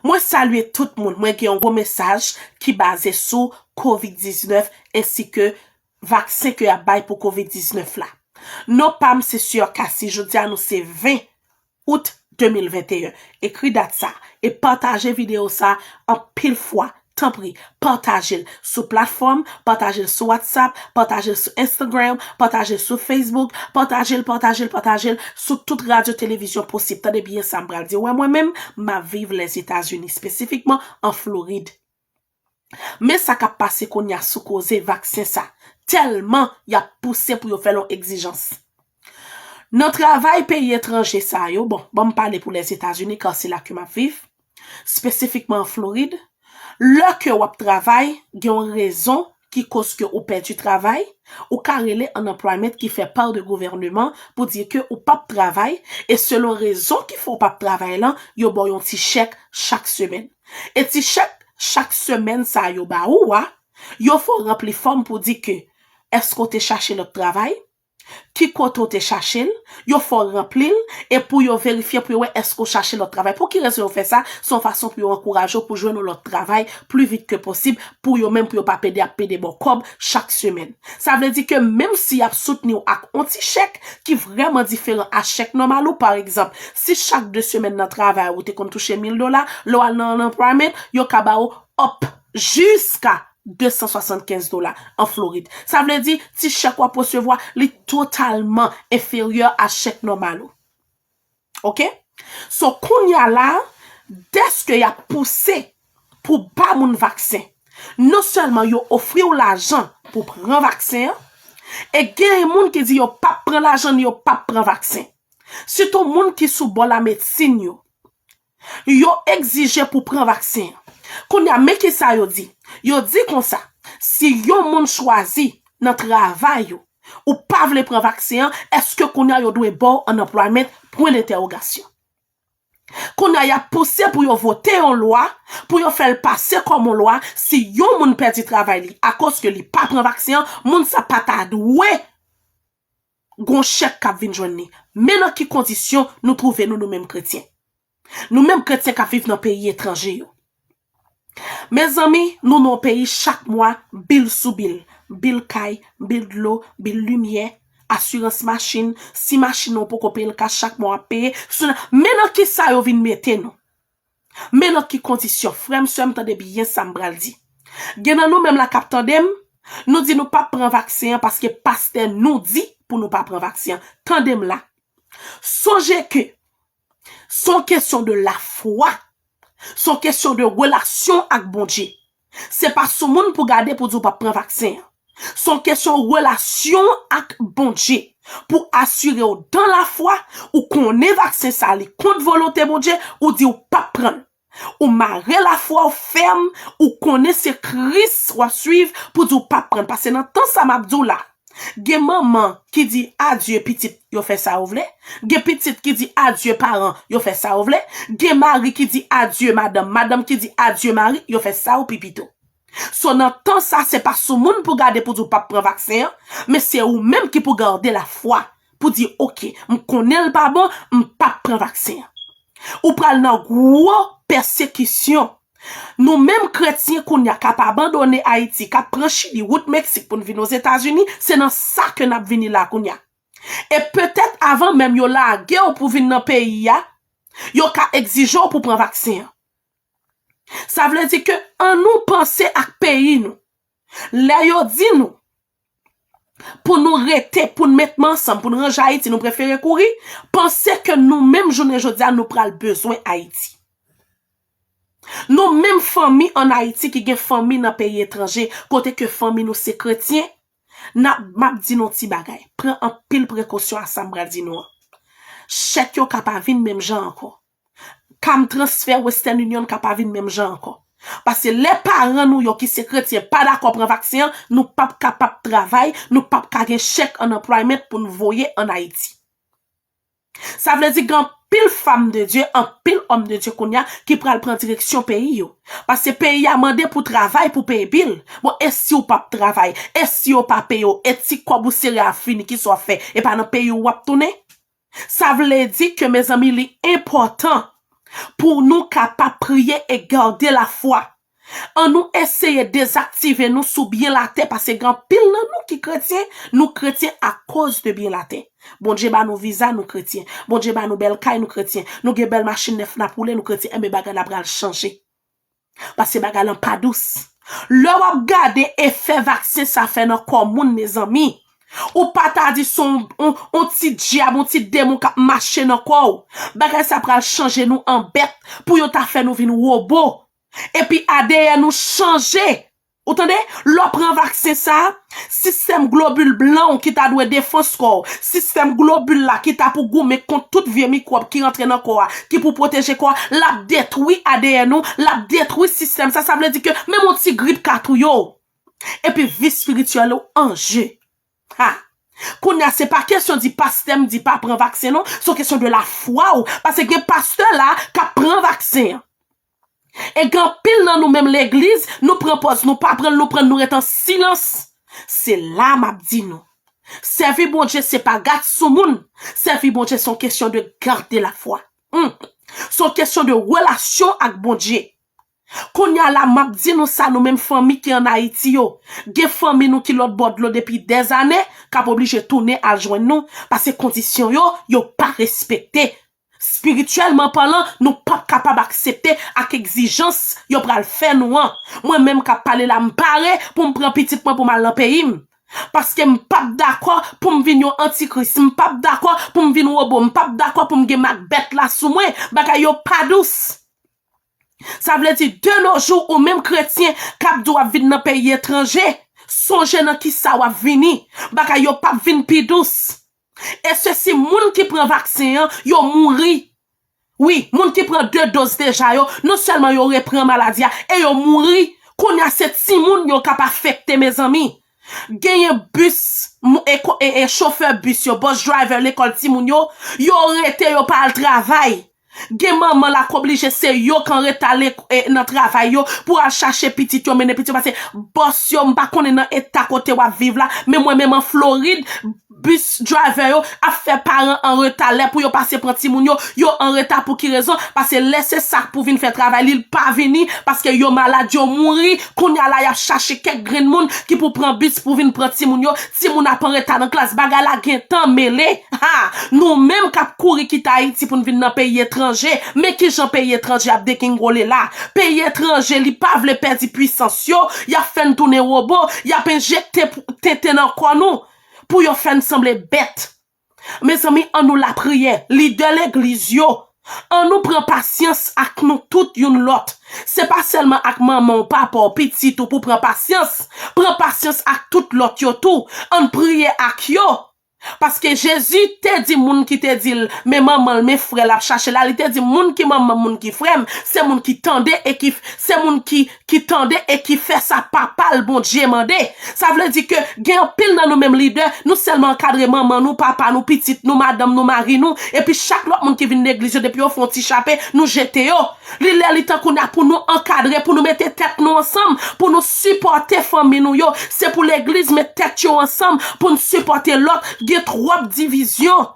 Mwen salye tout moun, mwen gen yon gwo mesaj ki baze sou covid 19 ensi ke vaksen ke yap bay pou covid 19 la. Non pam se Sieur Cassy, jodi a nou se 20 Out 2021, ekri dat sa e pataje video sa anpil fwa Tanpri, pataje l sou platfòm, pataje l sou WhatsApp, pataje l sou Instagram, pataje l sou Facebook, pataje l, pataje l, pataje l sou tout radyo televizyon posib. Tande byen sa m pral di ou a, mwen menm, m ap viv Lèzetazini, espesifikman an Florid. Men sa k ap pase kounye a sou koze vaksen sa, tèlman y ap pouse pou yo fè l yon egzijans. Nan travay peyi etranje sa yo, bon, ban m pale pou Lèzetazini ka se la ke m ap viv, spesifikman an Florid, lè ke w ap travay, gen yon rezon ki koz ke ou pèdi travay, ou ka rele unemployment ki fè pa de gouvèneman pou di ke ou pa p travay, e selon rezon ki fè w pa p travay lan, yo ba w yon ti chèk chak semèn. E ti chèk chak semèn sa a yo ba ou a, yo fè w ranpli fòm pou di ke, èske w te chache lòt travay? Ki kote ou te chache l? Yo fè w ranpli l e pou yo verifye pou yo wè èske ou chache lòt travay. Pou ki rezon yo fè sa? Se yon fason pou yo ankouraje w pou jwenn yon lòt travay pli vit ke posib pou yo menm pou yo pa pede ap pede ba w kòb chak semèn. Sa vle di ke menm si y ap soutni w ak yon ti chèk ki vrèman diferan a chèk nòmal ou, pa egzanp, si chak de semèn nan travay ou te konn touche mil dola, lè w al nan anplwayaman, yo ka ba ou up jiska 275 dola an Florid. Sa vle di, ti chèk w ap resevwa, li totalman enferyè a chèk nòmal ou. Ok? So, kounye a la, dèske y ap pouse pou ba moun vaksen, non sèlman yo ofri w lajan pou w pran vaksen an, e genyen moun ki di yo p ap pran lajan ni yo p ap pran vaksen. Sitou moun ki sou bò lamedsin yo. Yo egzije pou pran vaksen an. Kounye a, men ki sa yo di. Yo di konsa, Si yon moun chwazi nan travay ou, ou pa vle pran vaksen an, èske kounye a yo dwe ba w unemployment? pwen dentèwogasyon. Kounye a, y ap pouse pou yo vote yon lwa, pou yo fè l pase kòm yon lwa, si yon moun pèdi travay li akoz ke li pa pran vaksen an, moun sa pa ta dwe gon chèk k ap vin jwenn li. Men nan ki kondisyon nou twouve nou nou menm kretyen. Nou menm kretyen k ap viv nan peyi etranje yo. Mezanmi, nou nan yon peyi chak mwa bil sou bil. Bil kay, bil dlo, bil limyè, asirans machin, si machin nan ou poko peye l kach chak mwa w ap peye. Men nan kisa yo vin mete nou. Men lòt ki kondisyon, frè m, sè m, tande byen sa m pral di. Gen nan nou menm la k ap tande m, nou di nou p ap pran vaksen an paske pastè nou di pou nou pa pran vaksen an. Tande m la, sonje ke s on kesyon de lafwa, s on kesyon de relasyon ak Bondye. Se pa sou moun pou gade pou di w pa p pran vaksen an. Se yon kesyon relasyon w ak Bondye. Pou asire w dan lafwa, ou konnen vaksen sa li kont volonte Bondye, ou di w pa p pran l. Ou mare lafwa w fèm, ou konnen se Kris w ap suiv pou di w pa p pran l. Pase nan tan sa m ap di w la a. Gen manman ki di adye pitit yo fè sa yo vle, gen pitit ki di adye paran yo fè sa yo vle, gen mari ki di adye madanm, madanm ki di adye mari yo fè sa yo pi pito. So nan tan sa se pa sou moun pou gade pou di w pap pran vaksen an, men se ou menm ki pou garde la fwa pou di ok m konnen l pa bon m pap pran vaksen an. Ou pral nan gwo pèsekisyon Nou menm kretyen kounye a k ap abandone Ayiti, k ap pran Chili, wout Meksik pou n vin Ozetazini, se nan sa ke n ap vini la kounye a. E petèt avan menm yo lage w pou vin nan peyi a, yo ka egzije w pou pran vaksen an. Sa vle di ke annou panse ak peyi nou. Lè yo di nou, Pou nou rete, pou nou met men ansanm, pou nou ranje Ayiti, nou prefere kouri, panse ke nou menm jounen jodi a nou pral bezwen Ayiti. Nou menm fanmi an Ayiti ki gen fanmi nan peyi etranje, kote ke fanmi nou se kretyen, nap, map di nou ti bagay, pran anpil prekosyon a sa m pral di nou an. Chèk yo ka pa vin menm jan ankò. Kam transfè Western Union ka pa vin menm jan ankò. Paske lè paran nou yo ki se kretyen pa dakò pran vaksen an, nou p ap kapab travay, nou p ap ka gen chèk unemployment pou n voye ann Ayiti. Sa vle di gen anpil fam de Dye, anpil òm de Dye kounye a ki pral pran direksyon peyi yo. Paske peyi a mande pou travay pou peye bil. Bon e si w p ap travay? E si yo pa peye w? E ti kòb ou sere a fini, kisa w ap fè? E pa nan peyi w w ap tounen? Sa vle di ke mezanmi li enpòtan pou nou kapab priye e gade lafwa. An nou eseye dezaktive nou sou byen latè pase gen anpil nan nou ki kretyen, nou kretyen akoz de byen latè. Bondye ba nou viza nou kretyen, Bondye ba nou bèl kay nou kretyen, nou gen bèl machin nèf nap woule nou kretyen enben bagay la pral chanje. Paske bagay lan pa dous. Lè wap gade efè vaksen sa fè nan kò moun mezanmi. Ou pa ta di son on ti dyab, on ti demon kap mache nan kò ou. Bagay sa pral chanje nou an bèt pou yo ta fè nou vin robo. Epi adeyè nou chanje. Ou tande? Lè w pran vaksen sa a, sistèm globil blan w ki ta dwe defans kò w, sistèm globil la ki ta pou goumen kont tout vye mikwòb ki rantre nan kò a, ki pou pwoteje kò a, l ap detwi adn ou, l ap detwi sistèm sa, sa vle di ke menm yon ti grip ka touye w. Epi vi spirityèl ou an je. Ha! Kounye a se pa kesyon di pastè m di pa pran vaksen non, se yon kesyon de lafwa w, pase gen pastè la a k ap pran vaksen an. E gen anpil nan nou menm legliz, nou pran pòz nou pa pranl nou prann nou ret an silans. Se la map di nou. Sèvi Bondye se pa gat sou moun, sèvi Bondye son kesyon de gade la fwa. Humm. Son kesyon de relasyon ak Bondye. Kounya la map di nou sa nou menm fanmi ki an Ayiti yo. Gen fanmi nou ki lòt bò dlo depi dèzane kap oblije tounen al jwenn nou pase kondisyon yo yo pa respekte. Spirityèlman palan, nou pap kapab aksepte ak egzijans yo pral fè nou an. Mwen menm kap pale la m pare pou m pran pitit mwen pou m al nan peyi m. Paske m pap dakò pou m vin yon antikris, m pap dakò pou m vin wobo, m pap dakò pou m gen mak bèt la sou mwen. Bagay yo pa dous. Sa vle di de no jou ou menm kretyen kap di w ap vin nan peyi etranje, sonje nan kisa wap vini. Bagay yo pap vin pi dous. E se si moun ki pran vaksen an, yo mouri. Wi, moun ki pran 2 doz deja yo, non sèlman yo repran maladi a, e yo mouri. Kounye a se timoun yo k ap afekte mezanmi. Genyen bis, chofè bis yo, bus driver lekòl timoun yo, yo rete yo pa al travay. Gen manman la k oblije se yo k anreta nan travay yo pou al chache pitit yo mennen pitit yo pase bòs yo m pa konnen nan eta kote w ap viv la men mwen menm an Florid bis driver yo ap fè paran anreta lè pou yo pase pran timoun yo yo anreta pou ki rezon pase lè se sa k pou vin fè travay li l pa vini paske yo malad yo mouri kounye a la y ap chache kèk grenn moun ki pou pran bis pou vin pran timoun yo Timoun ap anreta nan klas bagay la gentan mele ha nou menm kap kouri kite ayiti poun vin nan peyi etranje men kijan peyi etranje ap degingole la peyi etranje li pa vle pèdi pwisans yo yap fèn tounen robo yap enjekte tenten nan kò nou pou yo fèn sanble bèt Mezanmi an nou lapriyè, lidè legliz yo, an nou pran pasyans ak nou tout youn lòt, se pa sèlman ak manman w, papa w, pitit ou pou pran pasyans, pran pasyans ak tout lòt yo tou, ann priye ak yo, paske Jezi te di moun ki te di l, men manman l, men frè l ap chache la, li te di moun ki manman m, moun ki frè m, se moun ki tande e ki, se moun ki. ki tande e ki fè sa Papa l, Bondye, mande. Sa vle di ke gen anpil nan nou menm lidè, nou sèlman ankadre manman nou, papa nou, pitit nou, madanm nou, mari nou, epi chak lòt moun ki vin legliz yo depi yo fè yon ti chape, nou jete yo. Li lè li tan kounye a pou nou ankadre, pou nou mete tèt nou ansanm, pou nou sipòte fanmi nou yo. Se pou legliz met tèt yo ansanm pou n sipòte lòt. Gen twòp divizyon.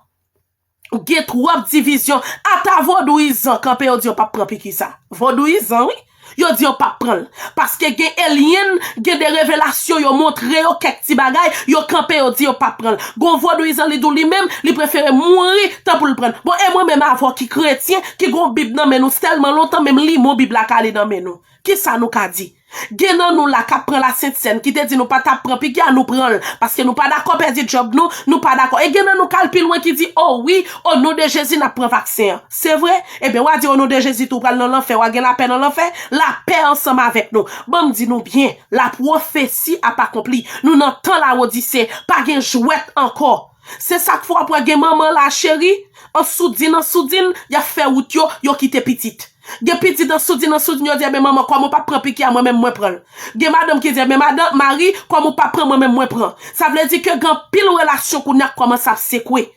Gen trop division ata vodouyizan kanpe yo di yo pap pran piki sa vodouyizan wi yo di yo pap pranl paske gen elyenn gen de revelasyon yo montre yo kèk ti bagay yo kanpe yo di yo pap pranl gon vodouyizan li di w li menm li prefere mouri tan pou l prann bon e mwen menm avw ki kretyen ki gon bib nan men nou sèlman lontan menm limon bib la kale nan men nou kisa nou ka di Gen nan nou la kap pran la sent sèn ki te di nou pa tap pran piki a nou pran l paske nou pa dakò pèdi djòb nou, nou pa dakò e gen nan nou kal pi lwen ki di o wi o non de Jezi nap pran vaksen an se vre ebyen wa di o non de Jezi tou pral nan lanfè wa gen lapè nan lanfè lapè ansanm avèk nou banm di nou byen lapwofesi ap akonpli nou nan tan lawodise pa gen jwèt ankò Se sak fè w ap wè gen manman la cheri, an soudin an soudin, y ap fè wout yo, yo kite pitit. Gen pitit an soudin an soudin yo di enben manman kòm ou pa p pran piki a mwen menm mwen pran l. Gen madanm ki di enben madan, mari, kòm ou pa pran mwen menm mwen pran. Sa vle di ke gen anpil relasyon kounye a k kòmanse ap sekwe.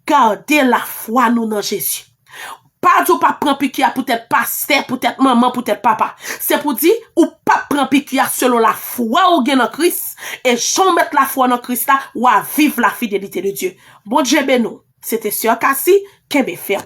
Gade lafwa nou nan Jezi. Pa di w pap pran piki a poutèt pastè, poutèt manman, poutèt papa. Se pou di, ou pap pran piki a selon lafwa ou gen nan Kris, e jan w met lafwa nan Kris la, wa viv lafidelite de Dye. Bondye beni w. Se te Soeur Cassy, kenbe fèm.